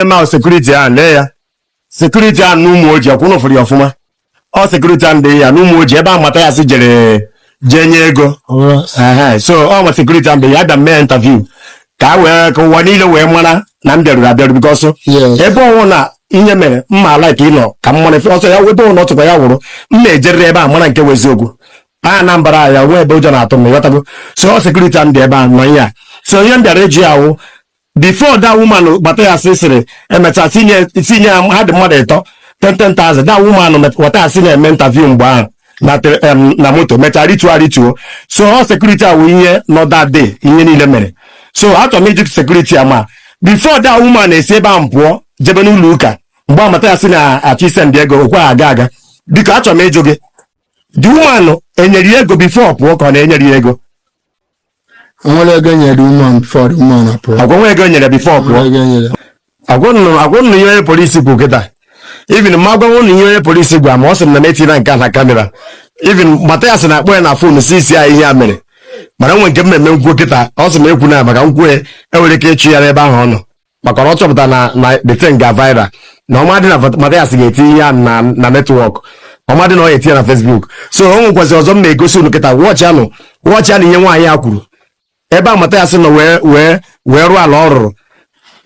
eme ahụ security ahụ lee ya security ahụ n'Ụmụoji ọ kwa ụnụ fụrụ ya ọfụma ọ security ahụ dị ya n'Ụmụoji ebe a Mathias jere jee nye ego Ehe, so ọ nwa security ahụ dị ya a bịa mee interview ka a wee ka ụwa niile wee mara na m bịaruru abịaru because Yes. ebe ọ wụ na ihe mere m ma like ị nọ ka m mara efe ọsọ ya ebe ọ wụ na ọ tụkwa ya wụrụ m na-ejerịrị ebe a mara nke wụ eziokwu Anambra ya nwee ebe ụjọ na-atụ m ịghọtago so ọ security ahụ dị ebe a nọ ihe a so ihe m bịara eji ya wụ before that woman Mathias sịrị emecha tinye tinye ya ha dị mmadụ ịtọ 10,000 that woman met- Mathias na-eme interview mgbe ahụ na te- em, na moto mechaa rituo arituo so ọ security a wụ ihe nọ that day ihe niile mere so achọrọ m ịjụ security a ma before that woman esi ebe ahụ pụọ jebe n'ụlọ ụka mgbe a Mathias na-achọ isendi ego o kwe aga aga biko achọrọ m ịjụ gị the woman enyere ya ego before ọ pụọ ka ọ na-enyere ya ego Enwere ego nyere woman before the woman apụọ. agwa nwa ego nyere before Enwere pụọ ego nyere. agwa ụnụ agwa ụnụ ihe onye polisi kwuru kịta even m ma-agwa ụnụ ihe onye polisi gwara m ọ sị m na m etina nke a na kamera even Mathias na-akpọ ya na fon sị sị ya ihe a mere mana nwe nke m meme m kwuo kịta ọ sị m ekwuna maka m kwue enwere ike ịchụ ya n'ebe ahụ ọ nọ maka na ọ chọpụta na na the thing ga viral na ọ madị na Vat- Mathias ga-eti ya na na network ọ madị na ọ ga-eti ya na Facebook so o nwekwazi ọzọ m na-egosi unu kịta watchianụ watchianụ ihe nwaanyị a kwuru ebe a Mathias nọ wee wee wee rụọ ala ọ rụrụ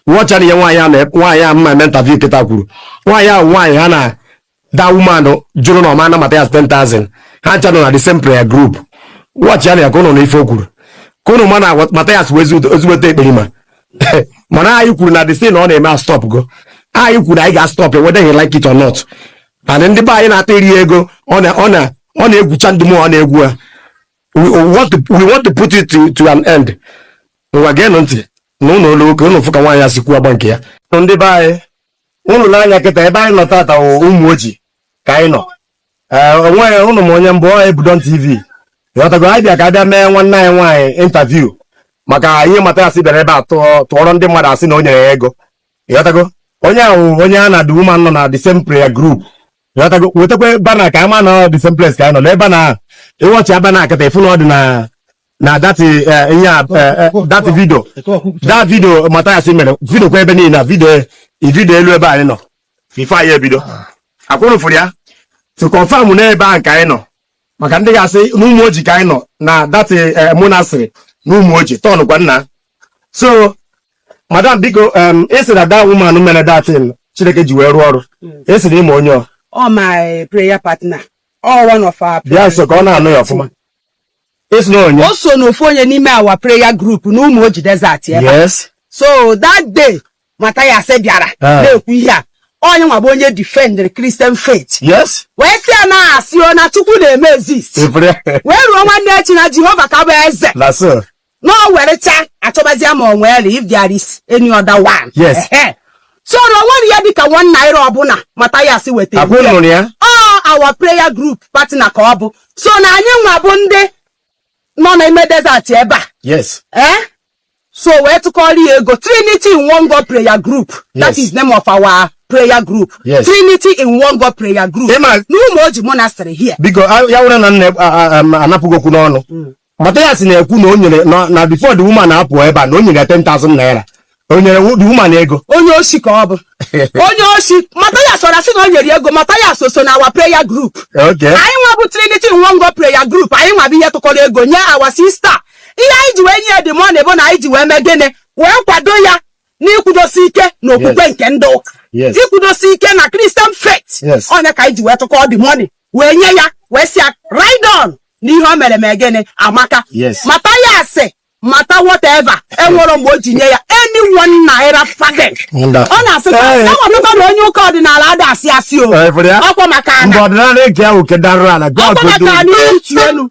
watchianụ ihe nwaanyị a na nwaanyị a m ma-eme interview kịta kwuru nwaanyị ahụ nwaanyị ha na that woman jụrụ na ọ ma-ana Mathias 10,000 ha ncha nọ na the same prayer group watchianụ ya ka ụnụ nụ ife o kwuru ka ụnụ ma na Mathias wụ ezigbote ekperima mana anyị kwuru na the thing ọ na-eme stopgo anyị kwuru anyị ga-astop whether he like it or not and ndị be anyị na-ata eri ego ọ na ọ na ọ na-egwucha ndị mụ ọ na-egwu ha we want to we want to put it to, to an end ngwa geenụ ntị nụlụ olu o ka ụnụ fụ ka nwaanyị a si kwuo agba nke ya ndị be anyị ụnụ nee anya kịta ebe anyị nọ tata Ụmụoji ka anyị nọ ee ọ kwa ụnụ ma onye m bụ ọ Ebudon TV ịghọtago anyị bịa ka a bịa mee nwanne anyị nwaanyị interview maka ihe Mathias bịara ebe a tụọrọ ndị mmadụ asị na o nyere ya ego ịghọtago onye ahụ onye ya na the woman nọ na the same prayer group ịghọtago wetakwa banner ka a ma na the same place ka anyị nọ n'ebe na ị watchịa banner a kịta ị fụ na ọ dị na na that eh, eh, ihe a eh, eh, that video that video Mathias mere videokwa ebe niile na video eh, i videolu ebe anyị nọ before anyị ebido ọ kwa ụnụ fụrụ ya to confirm na ebe ahụ ka anyị nọ maka ndị ga-asị na Ụmụoji ka anyị nọ na that eh, monastery n'Ụmụoji turnkwa nna so madam biko em, ị sị na that woman mere that thing Chineke ji wee rụọ ọrụ ị sị na ị ma onye ọ ọ my prayer partner ọ one of our bịa nso ka ọ na-anụ ya ọfụma Esi na onye? o so n'ofu onye n'ime our prayer group n'Umuoji desert ebe a. Yes. so that day Mathias bịara Ah. na-ekwu ihe a ọ ya nwa bụ onye defendere Christian faith Yes. wee sị ya na asị o na Chukwu na-eme exist Ifere. wee ruo nwanne echi na Jehova ka bụ eze Na so. na o werecha achọbazia ma o nwere if there is any other one Yes. Ehe. so na o nwerọ ya dịka one naira ọbụla Mathias wetara Abụ nụrụ ya? ọ our prayer group partner ka ọ bụ so na anyị nwa bụ ndị nọ n'ime desert ebe a Yes. eh? so wee tụkọrọ ya ego trinity in one god prayer group that Yes. is name of our prayer group Yes. trinity in one god prayer group Ịma- n'Umuoji monastery here Biko, a- ya were na nna a- a- a- anapụghị okwu n'ọnụ. Mathias na-ekwu na o nyere na na before the woman apụ ebe a na o nyere ya 10,000 naira o nyere wo- the woman ego onye osi ka ọ bụ onye osi Mathias ọra sị na o nyere ya ego Mathias so na our prayer group okay anyị nwa bụ Trinity in One God prayer group anyị nwa bụ ihe tụkọrọ ego nye our sister ihe anyị ji wee nye ya the money bụ na anyị ji wee mee gịnị wee kwado ya n'ikwudosi ike na okwukwe nke ndị ụka ikwudosi ike na Christian faith ọ ya ka anyị ji wee tụkọọ the money wee nye ya wee sị ya ride on na ihe o mere mee gịnị amaka Mathias mata whatever enwerọ mgbe o ji nye ya any one naira farthing ọ na-asị enwetakwa na onye ụka ọdịnala ada asị asị o ọkwa maka ana ọkwa maka ana elu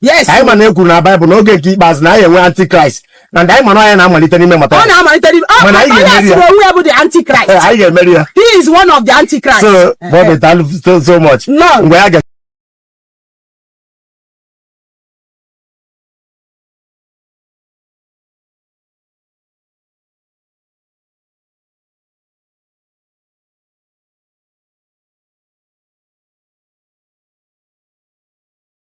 yes anyị ma na e kwuru na Bible na oge nke ikpeazụ na anyị enwe antichrist and anyị ma na ọ ya na-amalite n'ime Mathias ọ na-amalite n'ime ọ Mana anyị onye ga-emeri ya. asịrị onwe ya bụ the antichrist Ee, anyị ga-emeri ya he is one of the antichrist so bọbị daalụ so- so much Lord. mgbe ya ga